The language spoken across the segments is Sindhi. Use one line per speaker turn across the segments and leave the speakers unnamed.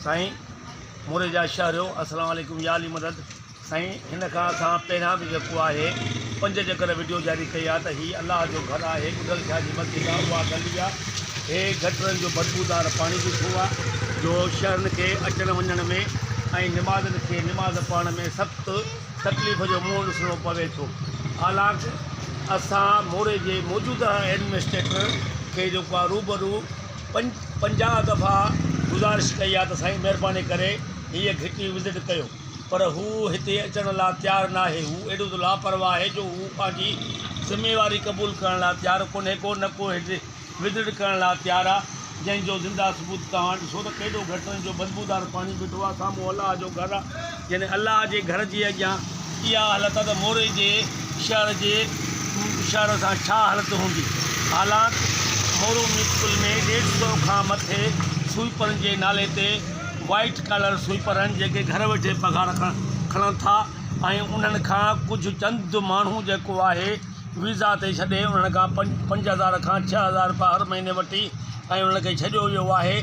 سائين موري جا شهريو السلام عليڪم يا علي مدد سائين هن کان اسان پهريان به جيڪو آهي پنج جيڪر ويڊيو جاري ڪئي آهي ته هي الله جو گھر آهي ٻڌل شاهه جي مسجد آهي اها گلي آهي هي گٽرن جو بدبودار پاڻي جو ڇو آهي جو شهرين کي اچڻ وڃڻ ۾ ۽ نمازين کي نماز پڙهڻ ۾ سخت تڪليف جو منهن ڏسڻو پوي ٿو حالانڪ اسان موري جي موجوده ايڊمنسٽريٽر کي جيڪو آهي روبرو پنج پنجاهه دفعا گذارش ڪئي آهي ته سائين مهرباني ڪري هيء گهٽي وزٽ ڪيو پر هو هتي اچڻ لاء تيار ناهي هو ايڏو ته لاپرواهه آهي جو هو پنهنجي ذميواري قبول ڪرڻ لاء تيار ڪونهي ڪو نه ڪو هتي ودڙ ڪرڻ لاء تيار آ جنهن جو زنده ثبوت توهان ڏسو ته ڪيڏو گهٽ ان جو بدبودار پاڻي بيٺو آ سامهون الله جو گهر آ يعني الله جي گهر جي اڳيان اها حالت آ ته موري جي شهر جي شهر سان ڇا حالت هوندي حالانڪ مورو ميونسپل ۾ ڏيڍ سئو کان مٿي سوئيپرن جي نالي تي وائيٽ ڪالر سوئيپر آهن جيڪي گهر ويٺي پگهار کڻن ٿا ۽ انهن کان ڪجهه چند ماڻهو جيڪو آهي ويزا تي ڇڏي انهن کان پنج هزار کان ڇهه هزار رپيا هر مهيني وٺي ۽ انهن کي ڇڏيو ويو آهي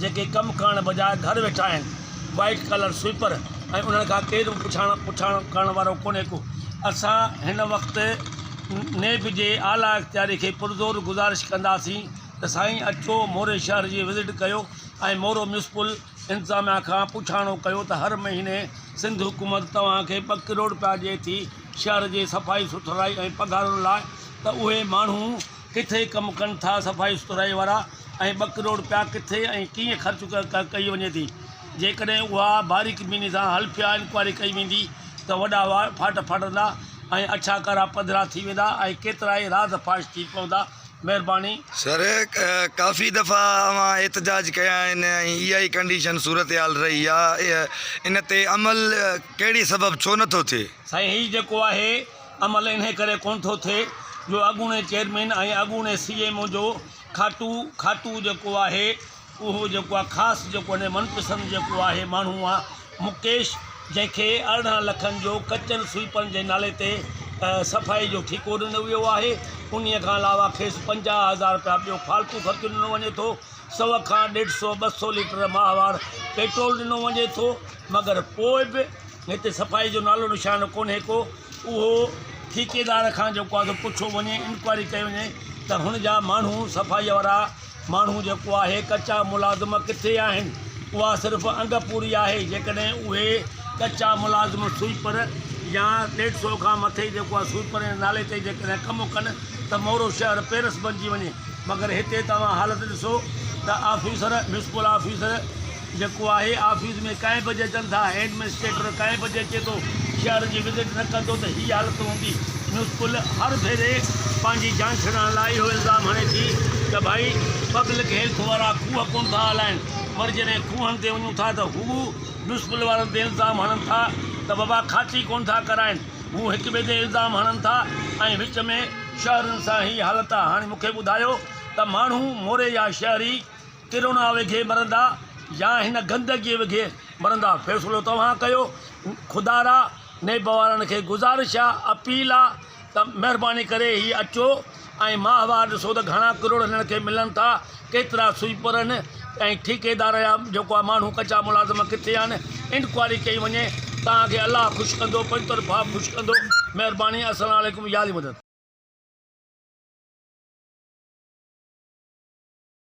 جيڪي ڪم ڪرڻ بجاء گهر ويٺا آهن وائيٽ ڪالر سوئپر ۽ انهن کان ڪير به پڇاڻ پڇاڻ ڪرڻ وارو ڪونهي ڪو اسان هن وقت نيب جي اعليٰ اختياري کي پرزور گذارش ڪنداسين ته سائين اچو موري شهر جي وزٽ ڪيو ۽ مورو ميونسپل انتظاميا کان پڇاڻو ڪيو ته هر مهيني سنڌ حڪومت توهان کي ٻه ڪروڙ رپيا ڏئي ٿي شهر جي صفائي سٿرائي ۽ پگهارن لاء ته اهي ماڻهو ڪٿي ڪم ڪن ٿا صفائي سٿرائي وارا ۽ ٻه ڪروڙ رپيا ڪٿي ۽ ڪيئن خرچ ڪئي وڃي ٿي جيڪڏهن اها باريڪ بيني سان حلفيه انڪوائري ڪئي ويندي ته وڏا وا ڦاٽ ڦاٽندا ۽ اڇا ڪارا پڌرا ٿي ويندا ۽ ڪيترائي راز فاش ٿي پوندا مهرباني. سر
ڪافي دفعا اوهان احتجاج ڪيا آهن ۽ اها ئي ڪنڊيشن صورتحال رهي آ ان تي عمل ڪهڙي سبب ڇو نه ٿو ٿئي؟ سائين هي جيڪو آهي
عمل انهي ڪري ڪونه ٿو ٿئي جو اڳوڻي چيئرمين ۽ اڳوڻي سي ايم او جو کاٽو کاٽو جيڪو آهي اهو جيڪو آهي خاص جيڪو هن جو من پسند جيڪو آهي ماڻهو آهي مڪيش جنهن کي ارڙهن لکن جو ڪچن سوئيپرن جي نالي تي صفائي جو ٺيڪو ڏنو ويو آهي انهي کان علاوه کيس پنجاهه هزار رپيا ٻيو فالتو خرچ ڏنو وڃي ٿو سو کان ڏيڍ سو ٻه سو ليٽر ماهوار پيٽرول ڏنو وڃي ٿو مگر پوء به هتي صفائي جو نالو نشان ڪونهي ڪو اهو ٺيڪيدار کان جيڪو آهي سو پڇيو وڃي انڪوائري ڪئي وڃي ته هن جا ماڻهو صفائي وارا ماڻهو جيڪو آهي، ڪچا ملازم ڪٿي آهن؟ اها صرف انگ پوري آهي، جيڪڏهن اهي ڪچا ملازم سوئيپر يا ڏيڍ سئو کان مٿي جيڪو آهي سوئيپر جي نالي تي جيڪڏهن ڪم ڪن ته مورو شهر پيرس بنجي وڃي مگر هتي توهان حالت ڏسو ته آفيسر، ميونسپل آفيسر، جيڪو آهي آفيس ۾ ڪئين بجي اچن ٿا، هيڊ منسٽريٽر ڪئين بجي اچي ٿو، شهر جي وزٽ نه ڪندو ته هي حالت هوندي. ميونسپل هر ڀيري پنهنجي جان ڇڏائڻ لاء اهو الزام هڻي ٿي ته ڀائي پبلڪ هيلٿ وارا کوهه ڪونه ٿا هلائين پر جڏهن کوهن تي وڃون ٿا ته هو ميونسپل وارن تي الزام هڻن ٿا ته وبا کاتي ڪونه ٿا ڪرائين. هو هڪ ٻئي تي الزام هڻن ٿا ۽ وچ ۾ شهرين سان هي حالت آ. هاڻي مونکي ٻڌايو ته ماڻهو موري يا شهري. ڪرونا وگهي مرندا يا هن گندگي وگهي مرندا فيصلو توهان ڪيو خدارا نيب وارن کي گذارش آ اپيل آ ته مهرباني ڪري هي اچو ۽ ماهوار ڏسو ته گهڻا ڪروڙ هنن کي ملن ٿا ڪيترا سوئيپرن ۽ ٺيڪيدار يا جيڪو آ ماڻهو ڪچا ملازم ڪٿي آهن انڪوائري ڪئي وڃي توهان کي الله خوش ڪندو پنهنجي طرفان خوش ڪندو مهرباني السلام عليڪم ياري مدد.